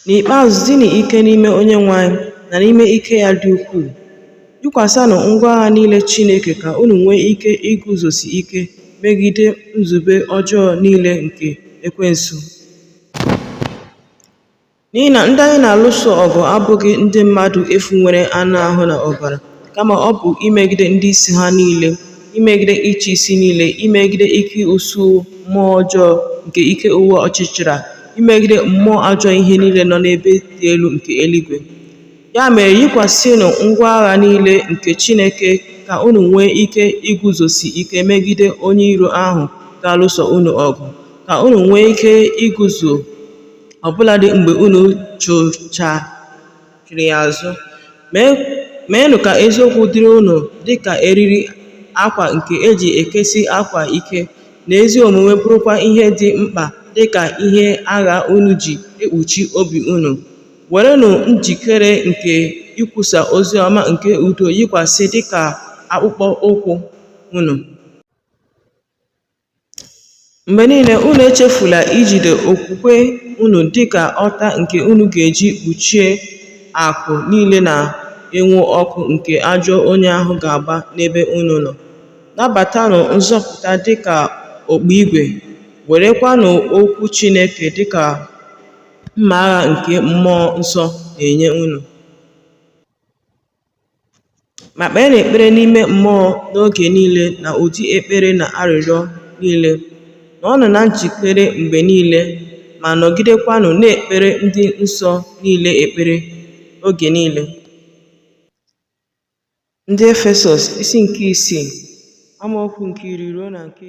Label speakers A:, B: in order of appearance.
A: N'ikpeazụ, dịnụ ike n'ime Onyenwe anyị na n'ime ike ya dị ukwuu. Yikwasịnụ ngwa agha niile Chineke ka unu nwee ike iguzosi ike megide nzube ọjọọ niile nke Ekwensu. N'ihi na ndị anyị na-alụso ọgụ abụghị ndị mmadụ efu nwere anụ ahụ na ọbara, kama ọ bụ imegide ndị isi ha niile, imegide ịchị isi niile, imegide ike usuu mmụọ ọjọọ nke ike ụwa ọchịchịrị a, imegide mmụọ ajọ ihe niile nọ n'ebe dị elu nke eluigwe. Ya mere, yikwasịnụ ngwa agha niile nke Chineke ka unu nwee ike iguzosi ike megide onye iro ahụ ga-alụso unu ọgụ, ka unu nwee ike iguzo ọbụladị mgbe unu chụghachiri ya azụ. Meenụ ka eziokwu dịrị unu dị ka eriri akwa nke e ji ekesi akwa ike, na ezi omume bụrụkwa ihe dị mkpa dị ka ihe agha unu ji ekpuchi obi unu. Werenụ njikere nke ikwusa ozi ọma nke udo yikwasị dị ka akpụkpọ ụkwụ unu. Mgbe niile, unu echefula ijide okwukwe unu dị ka ọta nke unu ga-eji kpuchie akụ niile na-enwu ọkụ nke ajọ onye ahụ ga-agba n'ebe unu nọ. Nabatanụ nzọpụta dị ka okpu igwe, werekwanụ okwu Chineke dị ka mma agha nke Mmụọ Nsọ na-enye unu. Ma kpeenụ ekpere n'ime mmụọ n'oge niile na ụdị ekpere na arịrịọ niile. Nọọnụ na njikere mgbe niile ma nọgidekwanụ na-ekpere ndị nsọ niile ekpere oge niile. Ndị Efesọs isi nke isii amaokwu nke iri ruo na nke